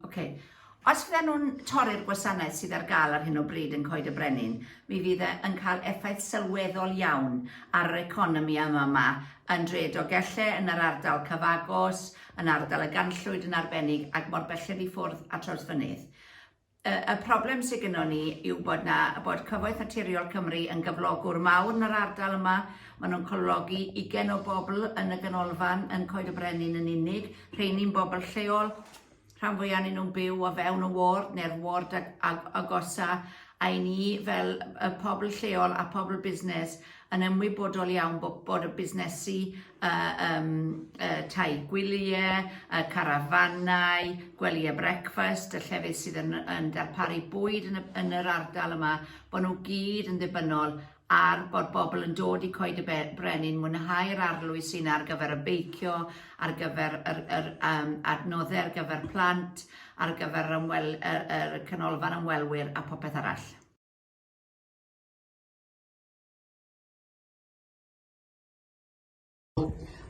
Ok. Os fydden nhw'n torri'r gwasanaeth sydd ar gael ar hyn o bryd yn Coed y Brenin, mi fydd e yn cael effaith sylweddol iawn ar yr economi yma yma yn dre Dogelle, yn yr ardal cyfagos, yn ardal y Ganllwyd yn arbennig ac mor belled i ffwrdd a Trawsfynydd. Y, y problem sydd gynnwn ni yw bod na, bod Cyfoeth Naturiol Cymru yn gyflogwr mawr yn yr ardal yma. Maen nhw'n cyflogi ugen o bobl yn y ganolfan, yn Coed y Brenin yn unig. Rheini'n bobl lleol, rhan fwyaf yn nhw'n byw o fewn y ward neu'r ward ag, ag, agosa, a i ni fel y pobl lleol a pobl busnes yn ymwybodol iawn bod, bod y busnesu y, um, y tai gwyliau, y carafanau, gwelyau brecfast, y llefydd sydd yn, yn darparu bwyd yn, yn yr ardal yma, bod nhw gyd yn ddibynnol ar bod bobl yn dod i coed y brenin, mwynhau'r arlwy sy'n ar gyfer y beicio, ar gyfer yr, yr um, adnoddau ar gyfer plant, ar gyfer yr, ymwel, yr, yr canolfan ymwelwyr a popeth arall.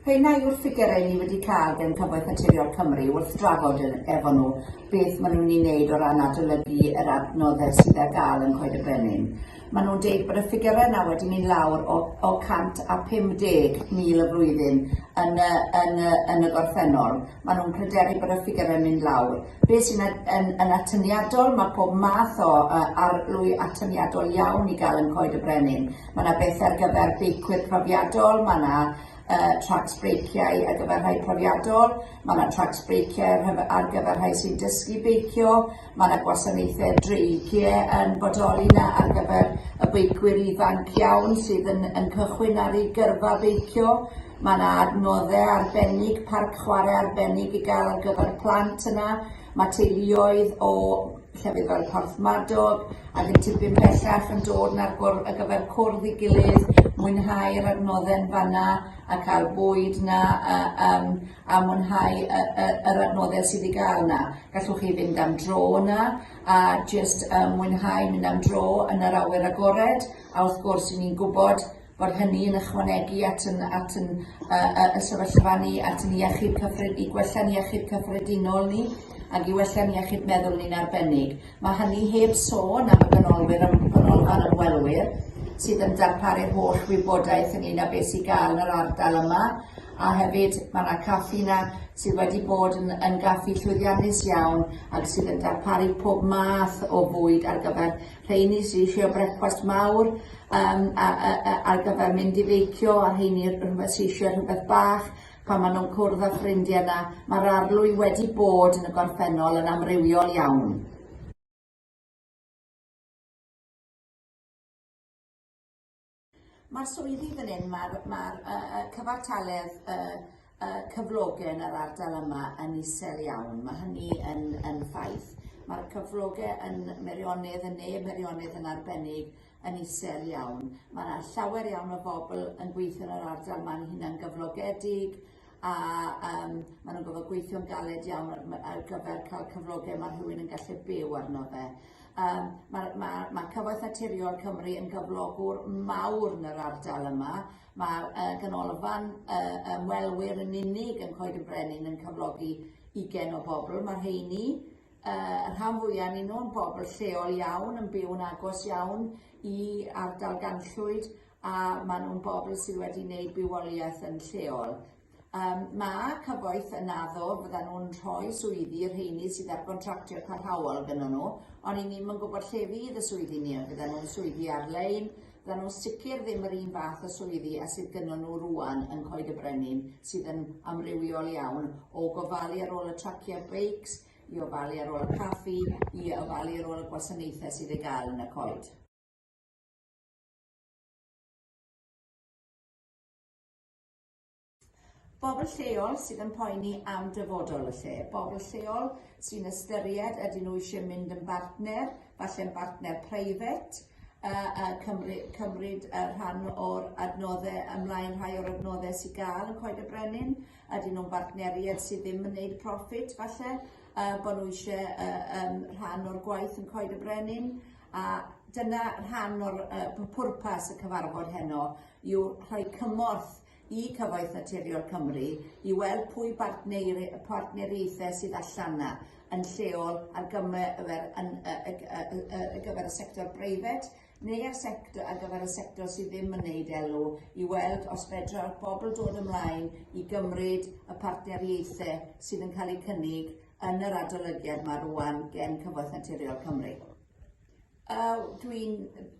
Heina yw'r ffigurau ni wedi cael gan Cyfoeth Naturiol Cymru wrth drafod efo nhw beth maen nhw'n ei wneud o ran adolygu yr adnoddau sydd ar gael yn Coed y Brenin. Maen nhw'n deud bod y ffigurau yna wedi mynd lawr o, o 150,000 y flwyddyn yn y, yn, y, yn y gorffennol. Maen nhw'n pryderu bod y ffigurau yn mynd lawr. Be sy'n yn, yn atyniadol, mae pob math o uh, arlwy atyniadol iawn i gael yn Coed y Brenin. Mae yna bethe ar gyfer beicwyr profiadol, mae yna uh, tracks breiciau ar gyfer rhai profiadol, mae yna tracks breiciau ar gyfer rhai sy'n dysgu beicio, mae yna gwasanaethau dreigiau yn bodoli yna ar gyfer y beicwyr ifanc iawn sydd yn, yn cychwyn ar ei gyrfa beicio, mae yna adnoddau arbennig, parc chwarae arbennig i gael ar gyfer plant yna, mae teuluoedd o llefydd fel Porthmadog ac yn tipyn bellach yn dod na'r bwrdd ar gyfer cwrdd i gilydd, mwynhau'r adnoddau'n fanna a cael bwyd na a, um, a mwynhau y, y, yr adnoddau sydd i gael yna. Gallwch chi fynd am dro yna a just um, mwynhau mynd am dro yn yr awyr agored a wrth gwrs ni'n gwybod bod hynny yn ychwanegu at yn at yn yy yy y sefyllfa ni at yn iechyd cyffred- i gwella'n iechyd cyffredinol ni ag i wella'n iechyd meddwl ni'n arbennig. Mae hynny heb sôn am y ganolwyr ym- ganolfan ymwelwyr sydd yn darparu'r holl wybodaeth ynglŷn â beth sy'n gael yn yr ardal yma a hefyd mae 'na caffi 'na sydd wedi bod yn yn gaffi llwyddiannus iawn ac sydd yn darparu pob math o fwyd ar gyfer rheini sydd eisiau brecwast mawr um, a, a, a, ar gyfer mynd i feicio, a rheini rhywbeth sydd eisiau rhywbeth bach, pan maen nhw'n cwrdd â ffrindiau yna, mae'r arlwy wedi bod yn y gorffennol yn amrywiol iawn. Mae'r swyddi fan hyn, mae'r ma uh, uh, cyfartaledd uh, uh, cyflogau yn yr ardal yma yn isel iawn. Mae hynny yn, yn ffaith. Mae'r cyflogau yn Meirionydd, yn ne Meirionydd yn arbennig, yn isel iawn. Mae yna llawer iawn o bobl yn gweithio yn yr ardal ma'n hunan gyflogedig, a um, maen nhw'n gofod gweithio'n galed iawn ar, ar gyfer cael cyflogau mae rhywun yn gallu byw arno fe. Um, mae, ma, ma Cyfoeth Naturiol Cymru yn gyflogwr mawr yn yr ardal yma. Mae uh, ganolfan uh, ymwelwyr yn unig yn Coed y Brenin yn cyflogi ugen o bobl. Mae'r heini uh, y rhan fwyaf ni nhw'n bobl lleol iawn, yn byw'n agos iawn i ardal ganllwyd, a maen nhw'n bobl sydd wedi wneud bywoliaeth yn lleol. Um, mae cyfoeth yn addo fyddan nhw'n rhoi swyddi i'r rheini sydd ar gontractio parhaol gyda nhw, ond i ni'n yn gwybod lle fydd y swyddi ni, fyddan nhw'n swyddi ar-lein, fyddan nhw'n sicr ddim yr un fath o swyddi a sydd gyda nhw rwan yn Coed y Brenin, sydd yn amrywiol iawn o gofalu ar ôl y traciau beics, i ofalu ar ôl y caffi, i ofalu ar ôl y gwasanaethau sydd ei gael yn y coed. Bobl lleol sydd yn poeni am dyfodol y lle, bobl lleol sy'n ystyried ydyn nhw eisiau mynd yn bartner, falle'n bartner preifat, a, a cymryd, cymryd uh, rhan o'r adnoddau ymlaen rhai o'r adnoddau sy'n gael yn Coed y Brenin, ydyn nhw'n bartneriaid sydd ddim yn gwneud profit falle, uh, bod nhw eisiau uh, um, rhan o'r gwaith yn Coed y Brenin, A dyna rhan o'r uh, pwrpas y cyfarfod heno yw rhoi cymorth i Cyfoeth Naturiol Cymru i weld pwy bartneir, partneriaethau sydd allan yna yn lleol ar gyfer, yn, uh, uh, uh, uh, uh, gyfer y sector breifat neu ar, sector, ar gyfer y sector sydd ddim yn neud elw i weld os fedra bobl dod ymlaen i gymryd y partneriaethau sydd yn cael eu cynnig yn yr adolygiad mae rwan gen Cyfoeth Naturiol Cymru. Uh, Dwi'n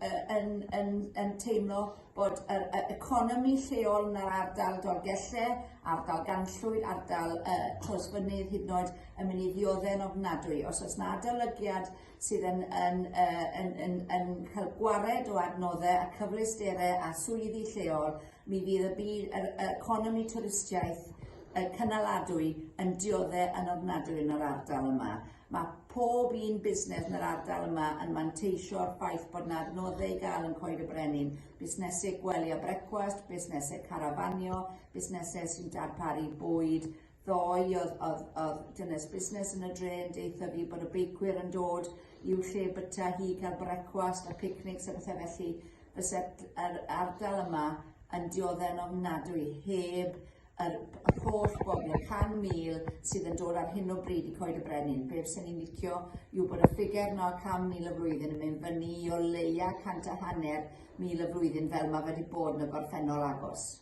uh, yn, yn, yn teimlo bod yr uh, economi lleol yn yr ardal Dolgelle, ardal Ganllwyd, ardal uh, Closfynydd hyd yn oed yn mynd i ddiodde'n ofnadwy. Os oes na adolygiad sydd yn yn yy yn yn yn cael gwared o adnoddau a cyfleusterau a swyddi lleol, mi fydd y byd yr economi twristiaeth y cynaladwy yn diodde yn ofnadwy yn yr ardal yma. Mae pob un busnes yn yr ardal yma yn manteisio'r ffaith bod yna adnoddau i gael yn Coed y Brenin, busnesau gwely a brecwast, busnesau carafanio, busnesau sy'n darparu bwyd, ddoe oedd, oedd, oedd dynes busnes yn y dre yn deitha fi bod y beicwyr yn dod i'w lle byta hi cael brecwast a picnics a bethau felly fysa yr ardal yma yn dioddau yn ofnadwy heb yr holl bobl, y 100,000 sydd yn dod ar hyn o bryd i Coed y Brenin. Be fyswn ni'n licio yw bod y ffigur yno 100,000 y flwyddyn yn mynd fyny i o leia 100 a hanner mil y flwyddyn fel mae wedi bod yn y gorffennol agos.